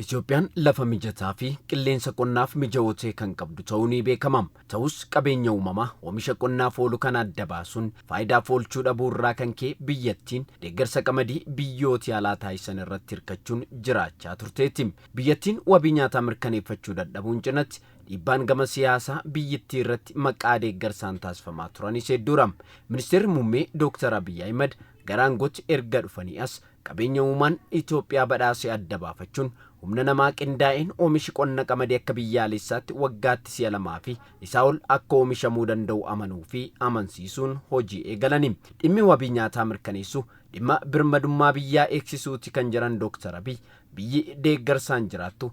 Itoophiyaan lafa mijataa fi qilleensa qonnaaf mijawoo ta'e kan qabdu ta'uu ni beekama. Ta'us qabeenya uumamaa oomisha qonnaaf oolu kana adda baasuun faayidaaf oolchuu dhabuu irraa kan ka'e biyyattiin deeggarsa qamadii biyyooti alaa taasisan irratti hirkachuun jiraachaa turteetti. Biyyattiin wabii nyaataa mirkaneeffachuu dadhabuun cinatti dhiibbaan gama siyaasaa biyyittii irratti maqaa deeggarsaan taasifamaa turanis hedduudha. Ministeerri Muummee Dooktar Abiy Ahimad Gara aangootti erga dhufanii as qabeenya uumaan Itoophiyaa badhaase adda baafachuun humna namaa qindaa'een oomishi qonna qamadii akka biyyaaleessaatti waggaatti si'a lamaa fi isaa ol akka oomishamuu danda'u amanuu fi amansiisuun hojii eegalani. Dhimmi wabii nyaataa mirkaneessuu dhimma birmadummaa biyyaa eegsisuuti kan jedhan Dooktar Abiy, biyyi deeggarsaan jiraattu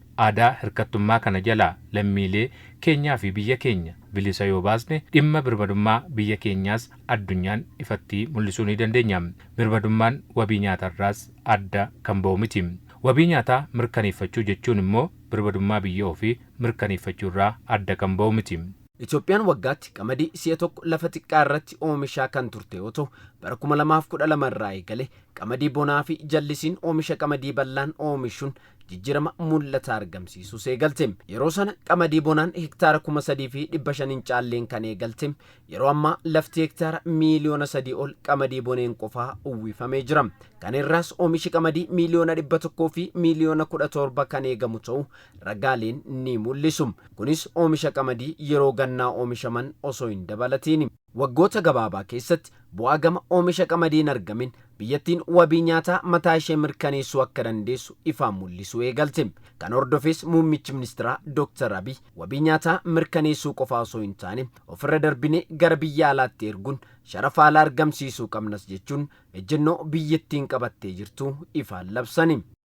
Aadaa hirkattummaa kana jalaa lammiilee keenyaa fi biyya keenya bilisa yoo baasne dhimma birmadummaa biyya keenyaas addunyaan ifatti mul'isuu ni dandeenya. Birmadummaan wabii nyaatarraas adda kan ba'u miti. Wabii nyaataa mirkaneeffachuu jechuun immoo birmadummaa biyya ofii mirkaneeffachuurraa adda kan ba'u miti. Itoophiyaan waggaatti qamadii si'a tokko lafa xiqqaa irratti oomishaa kan turte yoo ta'u, bara 2012 irraa eegalee qamadii bonaa fi jallisiin oomisha qamadii bal'aan oomishuun jijjirama mul'ataa argamsiisuus eegalte. Yeroo sana qamadii bonaan hektaara 3500 hin caalleen kan eegalte yeroo ammaa lafti hektaara miiliyoona 3 ol qamadii boneen qofaa uwwifamee jira. Kana irraas oomishi qamadii miiliyoona 100 fi miiliyoona 17 kan eegamu ta'uu ragaaleen ni mul'isu. Kunis oomisha qamadii yeroo gannaa oomishaman osoo hin dabalatiini. Waggoota gabaabaa keessatti bu'aa gama oomisha qamadii hin argamin biyyattiin wabii nyaataa mataa ishee mirkaneessuu akka dandeessu ifaan mul'isuu eegalte. Kana hordofees muummichi ministiraa Dooktar Abiy wabii nyaataa mirkaneessuu qofaa osoo hin taane ofirra darbinee gara biyya alaatti erguun sharafa alaa argamsiisuu qabnas jechuun ejjennoo biyyattiin qabattee jirtu ifaan labsani.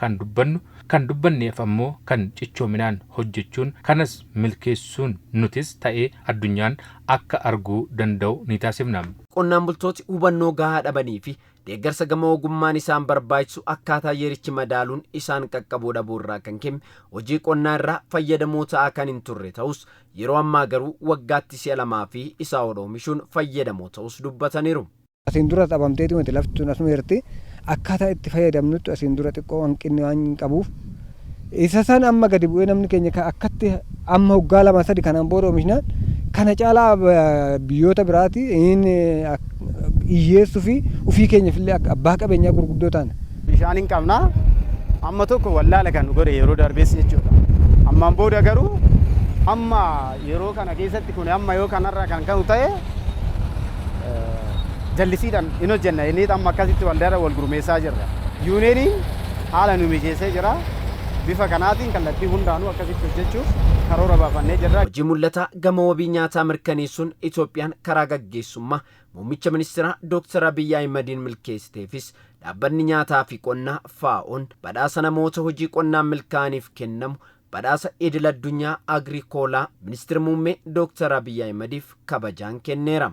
Kan dubbannu, kan dubbanneef ammoo kan cichoominaan hojjechuun kanas milkeessuun nutis ta'ee addunyaan akka arguu danda'u ni taasifna. Qonnaan bultooti hubannoo gahaa dhabanii fi deeggarsa gama ogummaan isaan barbaachisu akkaataa yerichi madaaluun isaan qaqqabuu dhabuu irraa kan ka'e hojii qonnaa irraa fayyadamoo ta'aa kan hin turre ta'us yeroo ammaa garuu waggaatti si'a lamaa fi isaa ol oomishuun fayyadamoo ta'uus dubbataniiru. Asiin duras dhabamteeti miti lafti tun asuma jirti. Akkaataa itti fayyadamnuttu asiin dura xiqqoo hanqinni waan qabuuf isa san amma gadi bu'ee namni keenya ka- akkatti amma hoggaa lama sadi kanaan booda oomishnaan kana caalaa eh, biyyoota biraati inni hiyyeessuu fi ofii keenyaaf illee akka abbaa qabeenyaa gurguddoo taana. bishaan hin qabna amma tokko wallaala kan nu godhe yeroo darbees jechuudha ammaan booda garuu amma yeroo kana keessatti kun amma yoo kanarraa kan ka'u ta'e jallisiidhaan hin hojjenna jennee amma akkasitti waldaadhaan wal gurmeessaa jirra. Yuuniyeeniin haala nu mijeessee jira. Bifa kanaatiin kallattii hundaanuu akkasitti hojjechuuf karoora baafannee jirra. Hojii mul'ataa gama wabii nyaataa mirkaneessuun Itoophiyaan karaa gaggeessummaa Muummicha Ministiraa Dooktar Abiyyi Ahimadiin milkeessiteefis Dhaabbanni Nyaataa fi Qonnaa, FAO'n, badhaasa namoota hojii qonnaan milkaa'aniif kennamu Badhaasa Idil Addunyaa Agriikoolaa Ministir Muummee Dooktar Abiy Ahimadiif kabajaan kenneera.